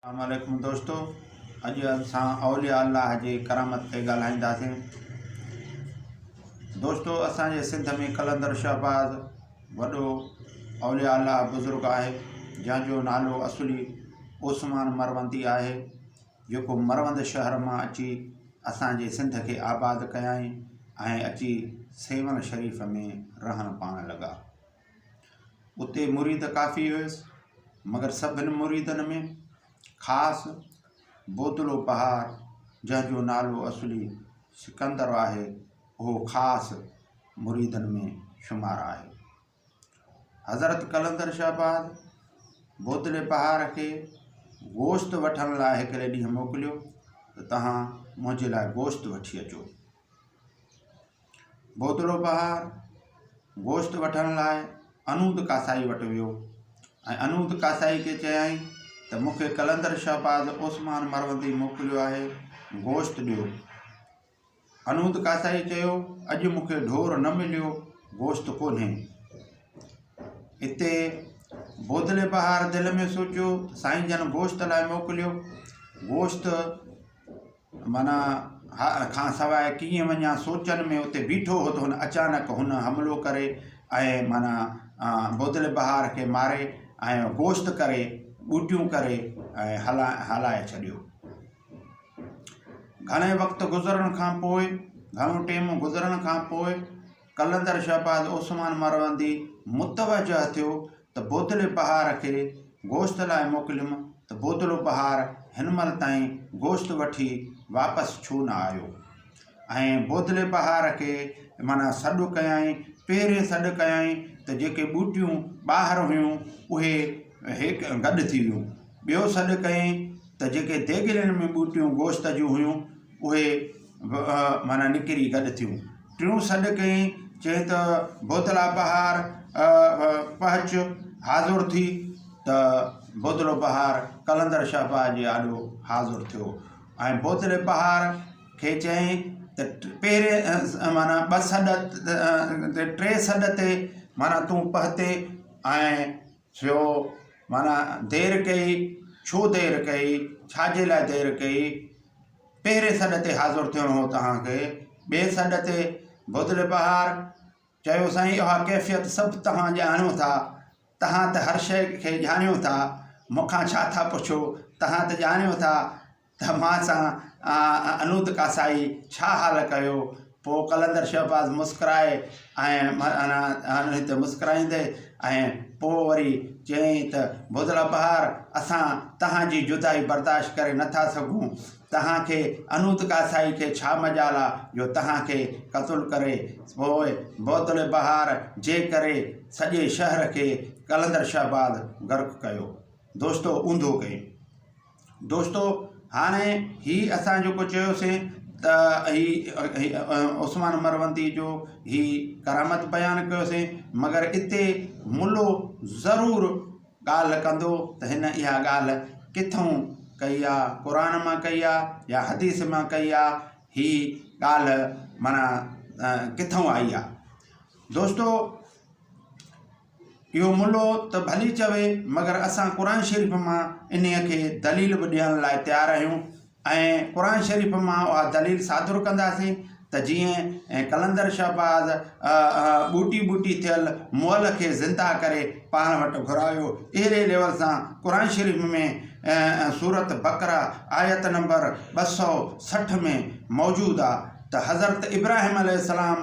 اسلام عليڪم دوستو اڄ اسان اولياء الله جي ڪرامت تي ڳالهائينداسين دوستو اسان جي سنڌ ۾ قلندر شهباز وڏو اولياء الله بزرگ آهي جنهن جو نالو اصلي عثمان مروندي آهي جيڪو مروند شهر مان اچي اسان جي سنڌ کي آباد ڪيائين ۽ اچي سيون شريف ۾ رهڻ پاڻ لڳا اتي مريد ڪافي هيس، مگر سڀن مريدن ۾ خاص بوتلو پهار جنهن جو نالو اصلي سڪندر آهي، اهو خاص مريدن ۾ شمار آهي. حضرت قلندر شهباز بوتلي پهار کي گوشت وٺڻ لاء هڪڙي ڏينهن موڪليو ته توهان منهنجي لاء گوشت وٺي اچو. ڀوتڙو بهار گوشت وٺڻ لاء انود ڪاسائي وٽ ويو ۽ انود ڪاسائي کي چيائين ته مون کي قلندر شهباز عثمان مروندي موڪليو آهي گوشت ڏيو انود ڪاسائي چيو اڄ مون کي ڍور نه مليو گوشت ڪونهي اتي بودلي بهار دل ۾ سوچيو سائين جن گوشت لاء موڪليو گوشت معنيٰ، هاء کان سواء ڪيئن وڃان؟ سوچن ۾ اتي بيٺو هو ته هن اچانڪ هن حملو ڪري ۽ معنيٰ بودل بهار کي ماري ۽ گوشت ڪري ٻوٽيون ڪري ۽ هلائي ڇڏيو. گهڻي وقت گذرڻ کان پوء، گهڻو ٽيم گذرڻ کان پوء، قلندر شهباز عثمان مروندي متوجه ٿيو ته بودلي بهار کي گوشت لاء موڪليم ته بودلو بهار هن مهل تائين گوشت وٺي واپس ڇو نه آيو؟ ۽ بودلي بهار کي معنيٰ سڏ ڪيائين، پهرين سڏ ڪيائين ته جيڪي ٻوٽيون ٻاهر هيون اهي هيڪ گڏ ٿي ويون، ٻيو سڏ ڪيائين ته جيڪي ديڳلين ۾ ٻوٽيون گوشت جون هيون اهي، به معنيٰ نڪري گڏ ٿيون. ٽيون سڏ ڪيئي، چيئي ته بودلا بهار پهچ حاضر ٿي ته بودلو بهار قلندر شهباز جي آڏو حاضر ٿيو ۽ بودلي بهار کي چيئي ته پهرين معنيٰ ٻه سڏ ٽي سڏ تي معنيٰ تون پهتي ۽ ٿيو معنيٰ دير ڪئي، ڇو دير ڪئي، ڇا جي لاء دير ڪئي، پهرين سڏ تي حاضر ٿيڻو هو توهان کي، ٻئي سڏ تي بودل بهار چيو سائين اها ڪيفيت سڀ توهان ڄاڻيو ٿا، توهان ته هر شيء کي ڄاڻيو ٿا، مون کان ڇا ٿا پڇو، توهان ته ڄاڻيو ٿا. توهان سان انوت ڪاسائي ڇا حال ڪيو؟ پوء قلندر شهباز مسڪرائي ۽ معنيٰ هتي مسڪرائيندي ۽ پوء وري چيائين ته بوزلا بهار اسان توهان جي جدائي برداشت ڪري نه ٿا سگهون. توهان کي انوت ڪاسائي کي ڇا مجال آ جو توهان کي قتل ڪري. پوء بوتلي بهار جي ڪري سڄي شهر کي قلندر شهباز غرق ڪيو. دوستو اونڌو ڪيم. دوستو هاڻي هي اسان جيڪو چيوسين ته هي عثمان مرونتي جو هي ڪرامت بيان ڪيوسين مگر اتي ملو ضرور ڳالهه ڪندو ته هن اها ڳالهه ڪٿون ڪئي آ قرآن مان ڪئي آ يا حديث مان ڪئي آ هي ڳالهه معنيٰ ڪٿون آئي آ دوستو اهو ملو ته ڀلي چوي مگر اسان قرآن شريف مان انهيء کي دليل به ڏيڻ لاء تيار آهيون ۽ قرآن شريف مان اها دليل صادر ڪنداسين ته جيئن قلندر شهباز ٻوٽي ٻوٽي ٿيل مئل کي زنده ڪري پاڻ وٽ گهرايو اهڙي ليول سان قرآن شريف ۾ سورت بقره آيت نمبر ٻه سؤ سٺ ۾ موجود آ ته حضرت ابراهيم عليه السلام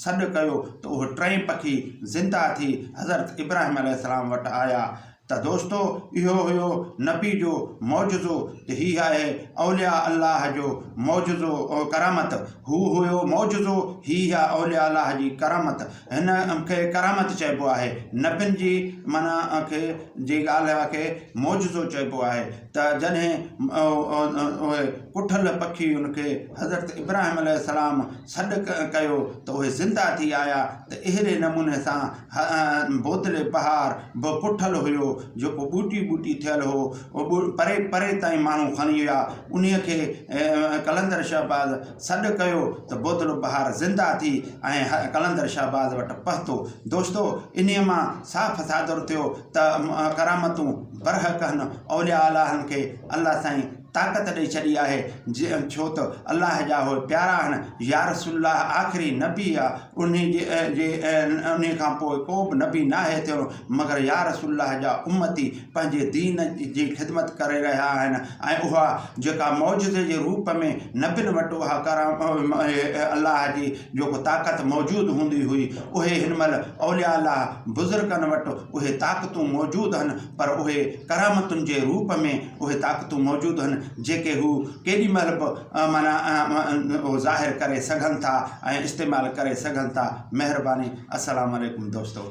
سڏ ڪيو ته اهي ٽئي پکي زنده ٿي حضرت ابراهيم عليه السلام وٽ آيا ته دوستو اهو هيو نبي جو معجزو ته هي آهي اولياء الله جو معجزو ۽ ڪرامت هو هيو معجزو هي آهي اولياء الله جي ڪرامت هن کي ڪرامت چئبو آهي نبين جي معنيٰ کي جي ڳالهه کي معجزو چئبو آهي ته جڏهن اهي ڪٺل پکي ان کي حضرت ابراهيم عليه السلام سڏ ڪيو ته اهي زنده ٿي آيا ته اهڙي نموني سان بودلي پهاڙ به ڪٺل هيو جيڪو ٻوٽي ٻوٽي ٿيل هو پري پري تائين ماڻهو کڻي ويا انهي کي قلندر شهباز سڏ ڪيو ته بودلو پهاڙ زنده ٿي ۽ قلندر شهباز وٽ پهتو دوستو انهي مان صاف صادر ٿيو ته ڪرامتون برحق هن اولياء الهن کي الله سائين طاقت ڏئي ڇڏي آهي ڇو ته الله جا اهي پيارا آهن يارسول الله آخري نبي آ انهي جي جي انهي کان پوء ڪو به نبي ناهي ٿيڻو مگر يارسول الله جا امتي پنهنجي دين جي خدمت ڪري رهيا آهن ۽ اها جيڪا معجزي جي روپ ۾ نبين وٽ اها ڪرام الله جي جيڪو طاقت موجود هوندي هئي اهي هن مهل اولياء الله بزرگن وٽ اهي طاقتون موجود هن پر اهي ڪرامتن جي روپ ۾ اهي طاقتون موجود هن جيڪي هو ڪيڏي مهل به معنيٰ ظاهر ڪري سگهن ٿا ۽ استعمال ڪري سگهن ٿا مهرباني السلام عليڪم دوستو.